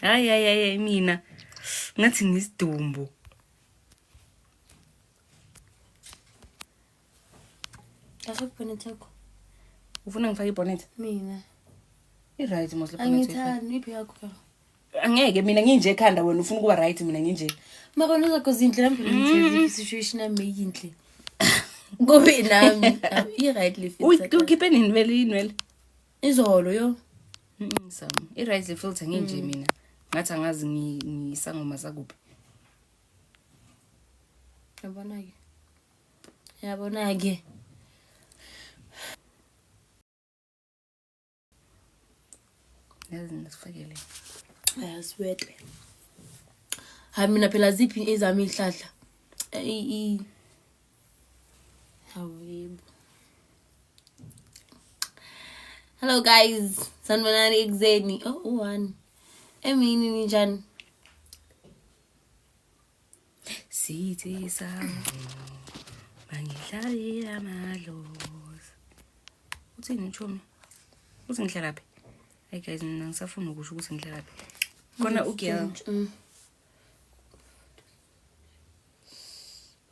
hayi hayi hayi mina ngathi ngisidumbu Kahle kubona thakho. ufuna ngifake ibonnet Mina. i-right mos le bonnet uyifa- Angithandi iphi yakho yona. angeke mina nginje ekhanda wena ufuna ukuba right mina nginje Maka noza cause indle yami ngithe situation yami yinhle. Kube nami. I right life. uyikhiphe nini vele inwele izolo yo ngisam i-right le filter nginje mm. mina ngathi angazi ngisangoma zakuphi yabona-ke yabona-ke yazi ngisifakele ayasiwete hayi mina phela ziphi ezami iy'hlahla Hello guys, sanibonani ekuzeni. Oh, u-one. Emini ninjani? Sithi sami mangidlalile amadlozi. Uthini uchomi? Uthi ngihlala phi? Hey guys, mina ngisafuna ukusho ukuthi ngihlala phi. Khona ugirl. Mm.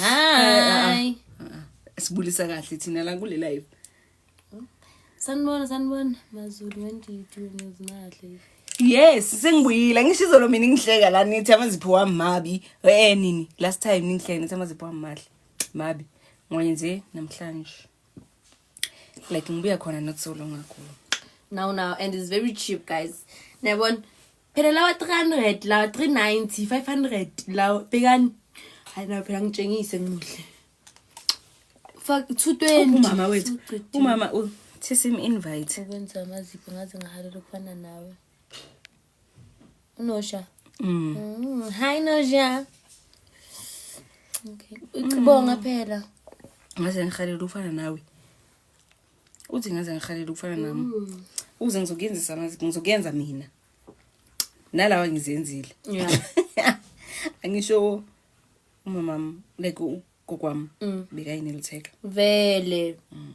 Hi. Sibulisa kahle thina la kule live. Sanibona sanibona Mazulu wendidi ngizimadle. Yes, sengibuyile. Ngisho izolo mina ngihleka la nithi amazipho wami mabi. Eh nini? Last time ningihleka nithi amazipho wami mahle. Mabi. Ngoye nje namhlanje. like ngibuya khona not so long ago now now and it's very cheap guys niyabona phela lawa 300 lawa 390 500 lawa bhekani hayi nayo phela ngitshengise ngimuhle fuck 220 umama wethu umama uthisa im invite ukwenza amazipho ngaze ngahalela ukufana nawe unosha mm. mm. hi nosha okay ucibonga mm. phela ngaze ngihalela ufana nawe uthi ngaze ngihalela ufana nami mm. uze ngizokuyenzisa amazi ngizokuyenza mina nalawa ngizenzile yeah angisho umama like ugokwami mm. bekayinelitheka vele mm.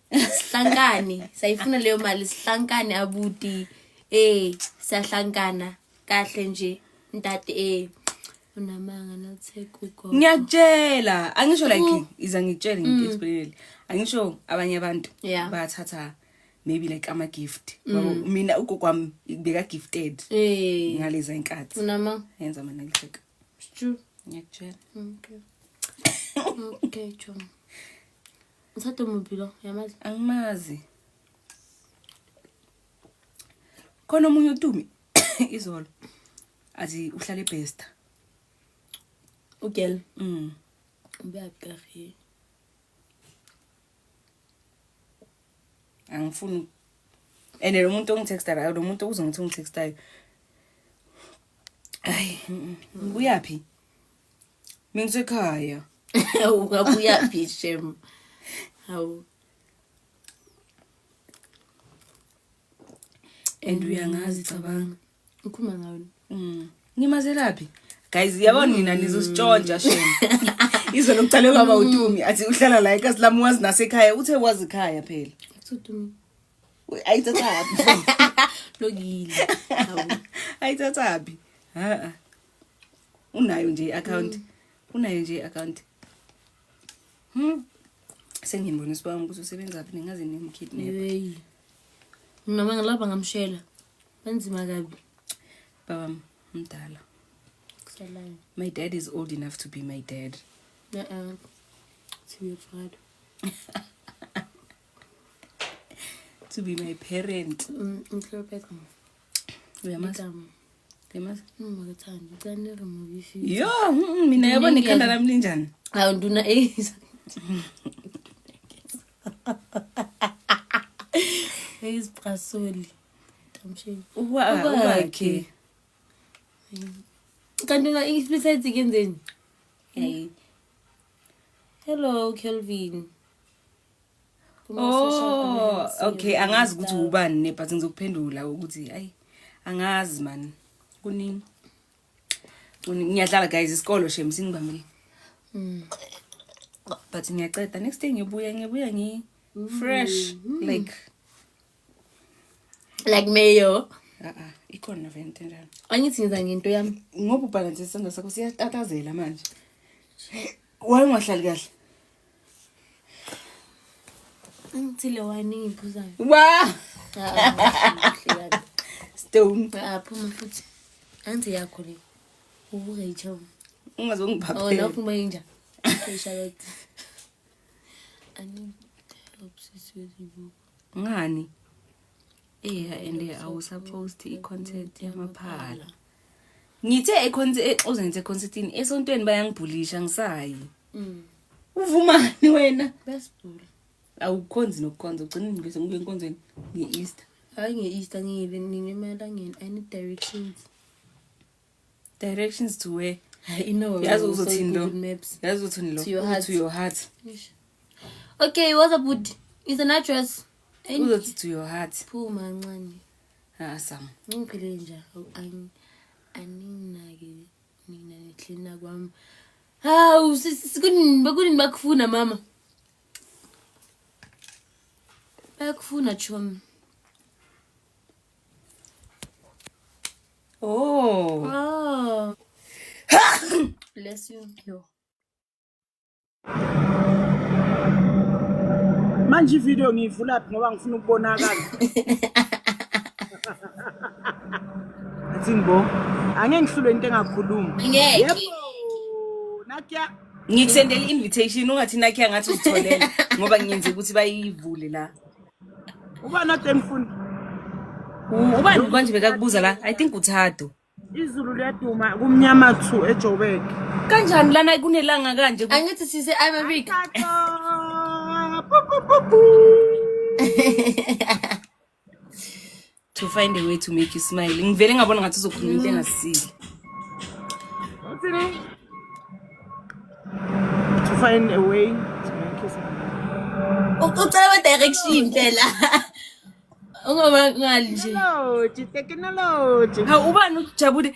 sihlankane sayifuna leyo mali sihlankane abuti eh siyahlankana kahle nje ntate eh unamanga notheka ugogo ngiyakutshela angisho like iza ngitshele ngikexplainele angisho abanye abantu Mm. Yeah. Mm. bathatha maybe like ama gift Wabo, mina ugogo wami beka gifted eh ngaleza inkathi unamanga yenza mina ngitheka It's true. ngiyakutshela Okay. Okay, John. Uthathe muphi lo? Uyamazi? Angimazi. Khona omunye utumi izolo. Azi uhlale best. Ugel. Mm. Ubuyakari. Angifuni and lo muntu ongitextayo lo muntu uze ngithi ungitextayo. Ay, uyaphi? Mina ngisekhaya. Ungabuya phi shem? Hawu. And uyangazi cabanga. Ukhuluma ngani? Mm. Ngimazelaphi? Guys, yabona nina nizositshontsha shem. Izolo kuqale kwaba uTumi athi uhlala la ekhaya lami wazi nasekhaya uthe wazi ekhaya phela. Uthutumi. Ayithathaphi. Lokile. Hawu. Ayithathaphi. Ha. unayo nje i-akhawunti mm. unayo nje i-akhawunti hmm. sengimbona isibanga ukuthi usebenzaphi ningaze nimkidnapyeyi mina ma ngilapha ngamshela benzima kabi baba mdala my dad is old enough to be my dad uh-uh. to be your father to be my parent mm, uyamazi uyamazi ngingakethandi ngicela ni remove if you yo mm, mina yabo Mina nekhanda ngiyaz- lami linjani awu nduna eyiza eyizibhasoli tamsheni Uba- ubakhe kanti na besides kenzeni hey hello kelvin Oh, okay angazi ukuthi ubani ne but ngizokuphendula ukuthi hayi angazi man kuningi ngiyadlala guys isikolo shem singibambile mm. but ngiyaceda next day ngibuya ngibuya ngi fresh mm. like like mayo a-a ikhona vent enjalo angithi ngiza ngento yami ngoba ubhalansisa isandla sakho siyatatazela manje wayengahlali kahle angithile wine engiphuzayo wa stone aphuma ah, futhi angithi yakho le ubuke ichow ungazongiphaphela oh lapho uma inja Charlotte I need help sis with the book ngani eya and awusapost i-concert yamaphala ngithe exozenze econcertini esontweni bayangibhulisha ngisayi mm. uvumani wena awukhonzi nokukhonza ugcina ngibese ngibe enkonzweni nge-easter hayi nge-easter ngiyile nini emalangeni i need directions directions to where I know. Yazi so uzothini lo? Google Maps. yazi uthini lo To your Uthi heart. to your heart Okay, what's up with is an address? Ain't uzothi to your heart phuma ncane. ah sam Ngiphile nje. Ang aninake nina nihlina kwami. Hawu sikunini bakunini bakufuna mama. Bakufuna chomi. Oh. Oh. Bless you. Yo. Manje ivideo ngiyivula phi ngoba ngifuna ukubonakala. Athini bo. Angeke ngihlulwe into engakhuluma. Ngeke. Yebo. Nakia Ngikusendela i-invitation ungathi nakhe angathi uzitholela ngoba ngiyenze ukuthi bayivule la. Uba not enfundo. Uba manje bekakubuza la, I think uthado. Izulu liyaduma kumnyama thu eJoburg. Kanjani lana kunelanga kanje? Angithi sise ababik. to find a way to make you smile ngivele ngabona ngathi uzokhuluma into engasile to find a way to make you smile ucela ba direction phela ungoba ngali nje technology hawu ubani ujabule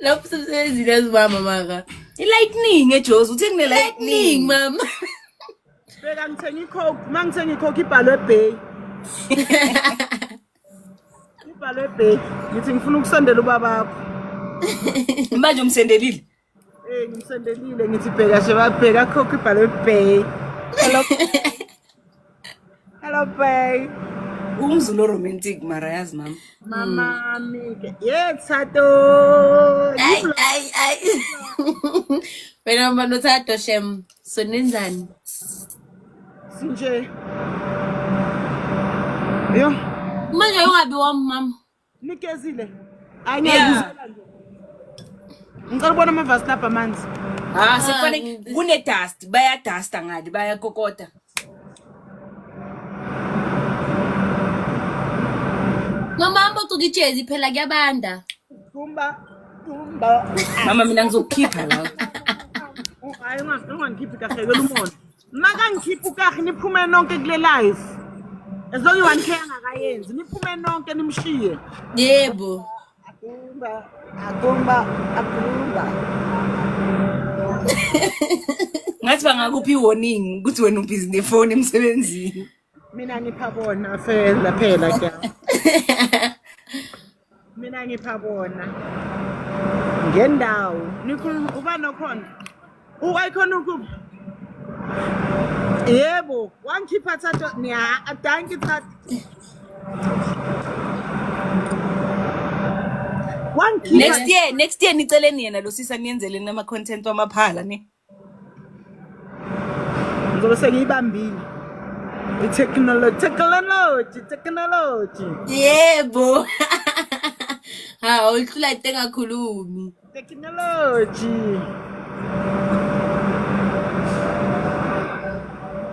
lapho sebenzile ezibamba maka i-lightning ejozi uthe kune-lightning mama beka ngithenga icoke uma ngithenga icoke ibhalwe ebay ibhalwe ebay ngithi ngifuna ukusondela ubabakho manje umsendelile Eh ngimsendelile ngithi bheka nje babheka khokho ibhalwe bay. Hello. Hello bay. Umzulu romantic mara yazi mama. Mama mi. Yeah, Tsato. Ay ay ay. Wena mama no Tsato shem. So nenzani? Sinje. Yo. Manje ungabi wami mama. Nikezile. Angeke uzela nje. Ngicela ubona amavasi lapha amanzi. Ah, sekufanele kune dust, baya dust ngadi, baya kokota. Mama mbo tukijezi phela kuyabanda. Kumba kumba. Mama mina ngizokukhipha la. Hayi ungakhiphi kahle kwelumona. makangikhipha ukahi niphume nonke kule live as long one care angakayenzi niphume nonke nimshiye yebo akumba akumba akumba ngathi bangakuphi warning ukuthi wena ubhizi nefoni emsebenzini Mina ngipha bona fela phela ke. Mina ngipha bona. Ngendawo. Nikhuluma ubani okhona? U-icon ukuphi? Yebo, wangikhipha thatha niya adanki thatha. Wangikhipha next year next year niceleni yena lo sisi aniyenzeleni ama-content wamaphala ni ngizobe sengiyibambile i-technology technology technology yebo hawu uhlula into engakhulumi technology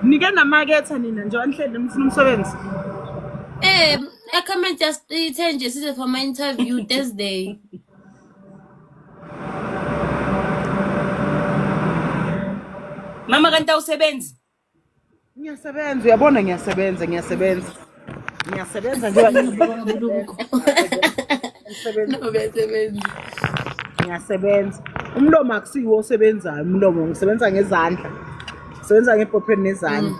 nike namaketha nina nje anhlele nifuna umsebenzi um i comment just ithe nje size for my interview thursday Mama kanti awusebenzi? Ngiyasebenza, uyabona ngiyasebenza, ngiyasebenza. Ngiyasebenza nje. Ngiyasebenza. Ngiyasebenza. Umlomo akusiwo osebenzayo, umlomo ngisebenza ngezandla. Ngisebenza ngephopheni nezandla.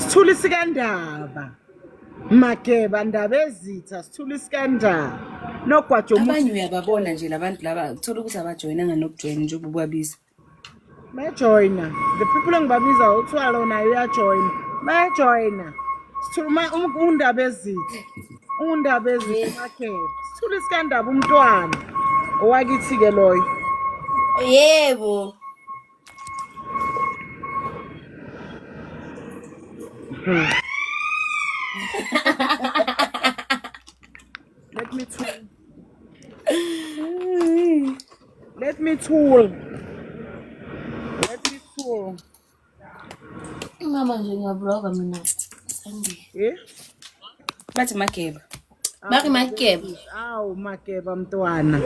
sithuli sikandaba mageba ndaba ezitha sithuli sikandaba nogwaja omuthi abanye uyababona nje labantu laba uthola ukuthi abajoyinanga nokujoyina njengoba ubabiza bayajoyina the people engibabiza uthiwa lona uyajoyina bayajoyina sithuluma undaba ezitha undaba ezitha mageba sithuli sikandaba umntwana owakithi-ke loyo yebo Let me tool. Let me tool. Let me tool. Mama nje ngiyabloga mina. Sandile. Eh? Bathi mageba. Baki makeba. Awu makeba mntwana.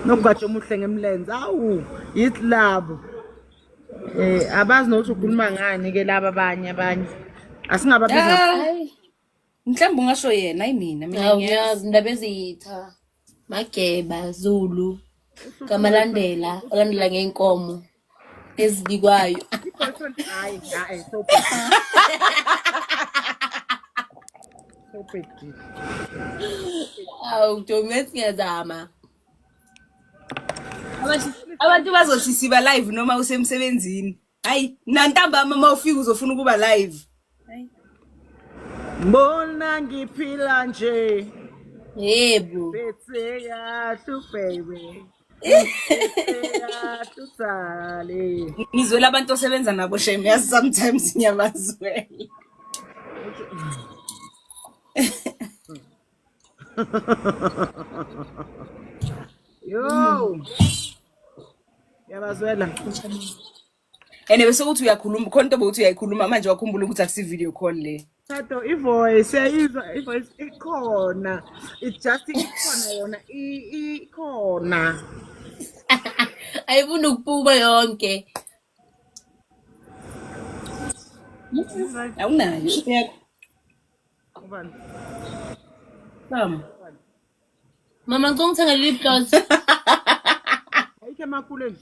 Nokugatsha omuhle ngemlenze. Awu yithi labo. Eh abazi nokuthi ukhuluma ngani ke laba abanye abanye. Asingababiza. Mhlawumbe ungasho yena ayimina mina. Awu ngiyazi indaba ezitha. Mageba Zulu. Kamalandela, olandela ngeenkomo. ezibikwayo awu domet ngiyazama abantu bazothi siba live noma usemsebenzini hayi nantambama uma ufika uzofuna ukuba live Mbona ngiphila nje Yebo. bese yahlu baby Tutsale. Ngizwela abantu osebenza nabo shame yazi sometimes ngiyabazwela. Yo. Yabazwela. and bese ukuthi uyakhuluma khona into bokuthi uyayikhuluma manje wakhumbula ukuthi akusi video call le Tato ivoice yayizwa ivoice ikhona it just ikhona yona ikhona ayifuna ukubuka yonke awunayo ubani bam Mama ngicela ungithengele lip gloss. Ayikho emakuleni.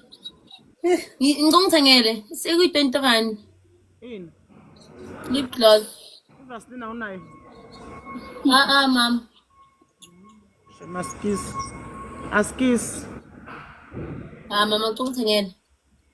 Ngi- Ngicela ungithengele. Sekuyi-20 rand. Ini. Lip gloss. Uvasilina unayo. Ah ah mama. Maskis. Askis. Ah mama ngicela ungithengele.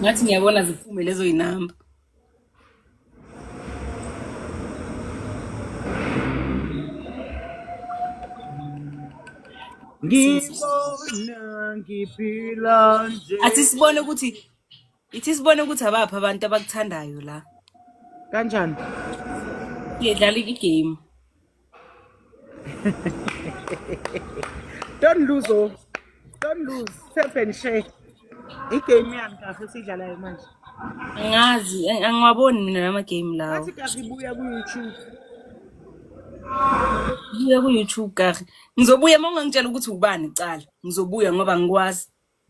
ngathi ngiyabona ziphume lezo yinamba ngibona ngiphila nje athi sibone ukuthi ithi sibone ukuthi abaphi abantu abakuthandayo la kanjani ngidlala igame don't lose oh don't lose tap and share igame yami kahle sidlalayo manje ngazi angiwaboni mina lama game lawo athi kahle ibuya ku YouTube Ngiya ku-YouTube kahle. Ngizobuya uma ungangitshela ukuthi ubani kuqala. Ngizobuya ngoba ngikwazi.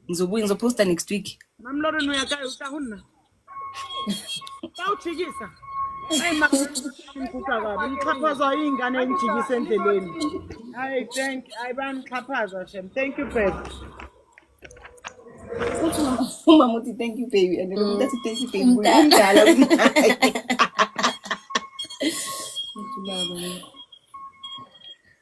ngizobuya ngizoposta next week mamloro noyakayo utahunna bawujikisa ayimkuka kabi nixhaphazwa iy'ngane enijikisa endleleni hayi thank hayi banixhaphazwa shem thank you babe uthi umama uthi thank you baby and then umuntu athi thank you baby umdala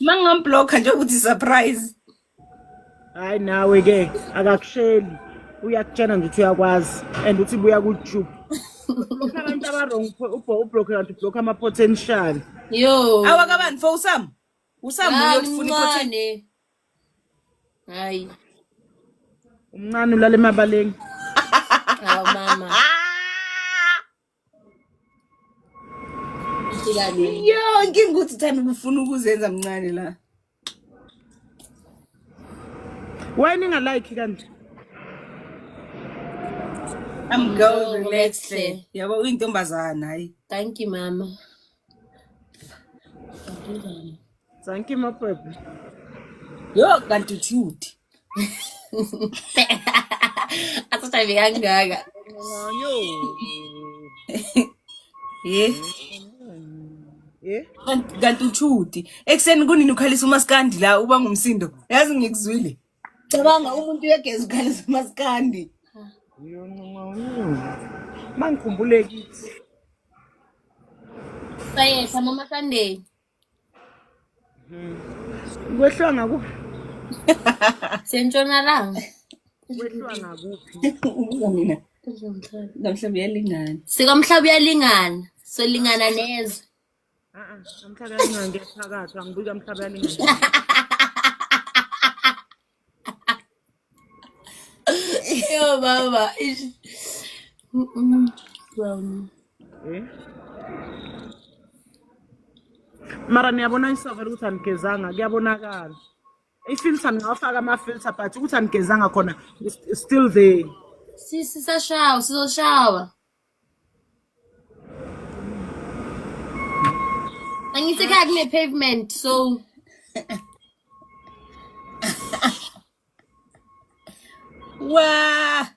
mangamblokha nje ukuthi surprise hayi nawe ke akakusheli uyakutshena nje ukuthi uyakwazi and uthi buya ku-tube abantu abarong ubloke kanti ubloke ama-potential yo awakabani fo usam usam uyofuna hayi umncane ulala emabaleni awu mama yo inkinga ukuthi uthanda ukufuna ukuzenza mncane la why ningalike kanje I'm going to the next day. Yabo uyintombazana hayi. Thank you mama. Thank you my baby. Yo kanti uthi uthi. Asashaye kangaka. Yo. Eh. Eh? Kanti uthi uthi. Ekseni kunini ukhalisa umaskandi la uba ngumsindo. Yazi ngikuzwile. cabanga umuntu uyageza ukhala zamaskandi mangikhumbule kithi sayehla mama sunday kwehliwa ngakuphi sentshonalanga kwehliwa ngakuphi ubuza mina namhlanje uyalingana sikamhlaba uyalingana solingana nezwe Aa, mhlaba yalingange phakathi angibuka mhlaba yalingange Yo baba. ish. Mm, mm, brown. Eh? mara niyabona isavele ukuthi anigezanga kuyabonakala ifilter ningawafaka ama-filter but ukuthi anigezanga khona is- is still there Sisi sashawa, sizoshawa. Angithi ekhaya kune-pavement so Wah!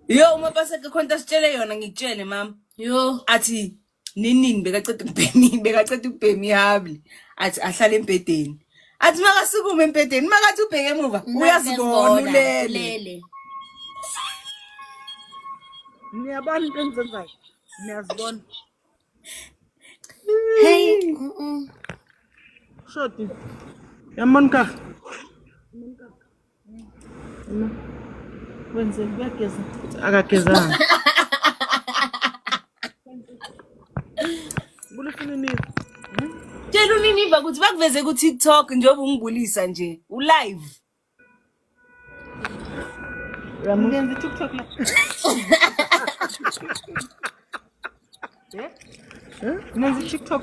Yo, uma paseka khona into asitshele yona ngikutshele mama. Yo. Athi ninini bekaceda ukubhemi bekaceda ukubhema ihabli athi ahlale embhedeni athi makasukume embhedeni makathi ubheke emuva uyazibona ulele niyabona into engizenzayo niyazibona hey shoti yamoni kaka Wenzeni kuyageza. Akagezanga. Kulifuna inini. Tshela uniniva ukuthi bakuveze ku TikTok njengoba ungibulisa nje. U live. Ngenza TikTok la. Ngenza TikTok.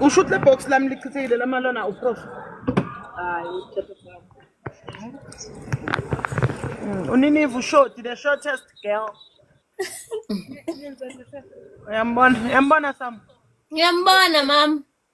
usho ukuthi le box lami lichithekile lamalona uprof hayi mm, uniniva ushoti the shortest girl uyambona uyambona sam ngiyambona mama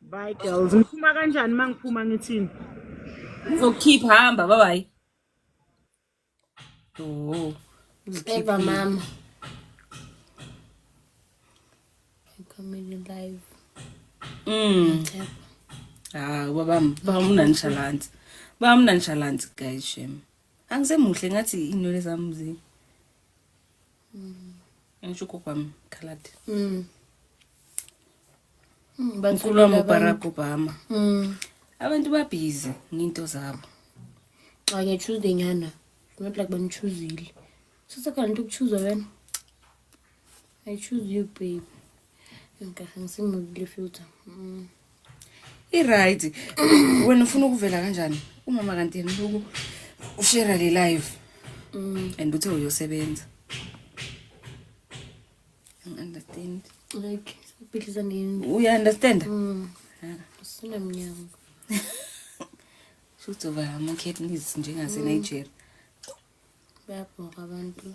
Bye girls. Ngiphuma kanjani uma ngiphuma ngithini? Ngizokukhipha hamba bye bye. Oh. Eva mama. Comedy live. Mm. Ah, baba bamuna nshalanzi. Bamuna nshalanzi guys shem. Angisemuhle ngathi inwele zami zi. mm. ngisho ugogo wami khaladi mm. mm, mkhulu wami ubarack obama mm. abantu babhizi nginto zabo xa ngiyachuze nyana not like banichuzile sase kanti ukuchuza wena i choose you babe Ngikahle ngisimudile filter. Mm. I-right. Wena ufuna ukuvela kanjani? Umama kanti yena ubuku ushare le live. Mm. And uthe uyosebenza. I understand. Like siphilisa nini? U understand? Mm. Sina mnyango. Shuthi uba ama-kidneys njengase-Nigeria. Mm. Bayabhoka abantu.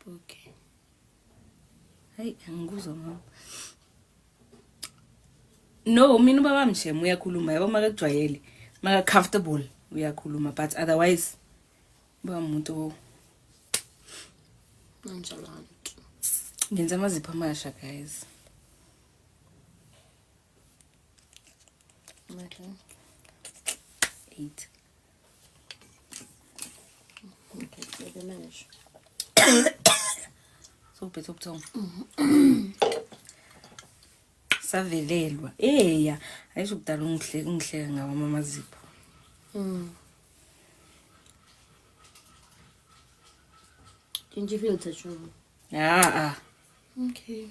Okay. Hayi angikuzwa mama. No, mina ubaba mshem uyakhuluma yabo makakujwayele. Maka comfortable uyakhuluma but otherwise ba umuntu nonchalant. Ngenza amazipho amasha guys. Okay. 8 sobhitha ubuthongo savelelwa eya ayisho kudala ungihleka ungihleka ngawo amamazipho mm. Didn't you feel the trouble? Ah, ah. Okay.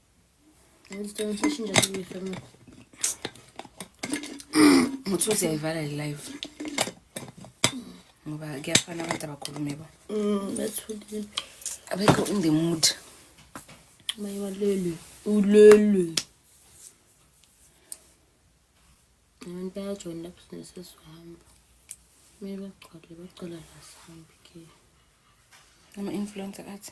Ngicela ushintshe sibuyise mina. Uthi uziyayivala le live. Ngoba kuyafana abantu abakhulume ba. Mm, bethulile. Abekho in the mood. Maye walele. Ulele. Abantu bayajoyina lapho sinesesihamba. Kumele bagcwale bacela la sihambe ke. Ama-influencer athi.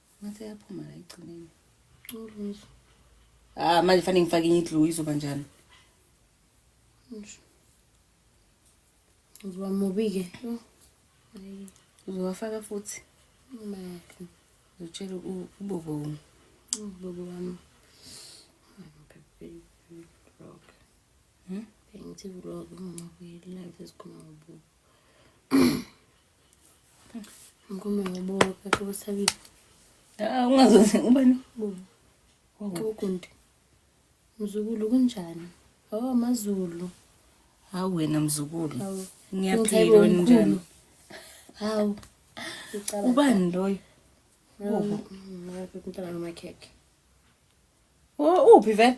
Ngathi yaphuma la egcineni. Ulungiswa. Ah manje fanele ngifake enye idlu izoba njani? Ngisho. Uzoba mubi-ke. Yho. Hayi. Uzowafaka futhi. Imali. Uzotshela u- ubobo wami. Ubobo wami. Vlog. Hmm? Bengithi vlog ngingabuyeli live esikhuluma ngobubo. Ngoma ngoboka kukusabile. Ah ungazoze ubani? Ukunti. Mzukulu kunjani? Oh mazulu. Hawu wena mzukulu. Ngiyaphila onjani? Hawu. Ubani loyo? Oh, ngabe umntana nomakhekhe. Oh, uphi vele?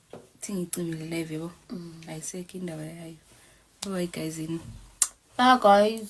Thi ngicimile live yebo. Ayisekho indaba yayo. Bye bye guys. Bye guys.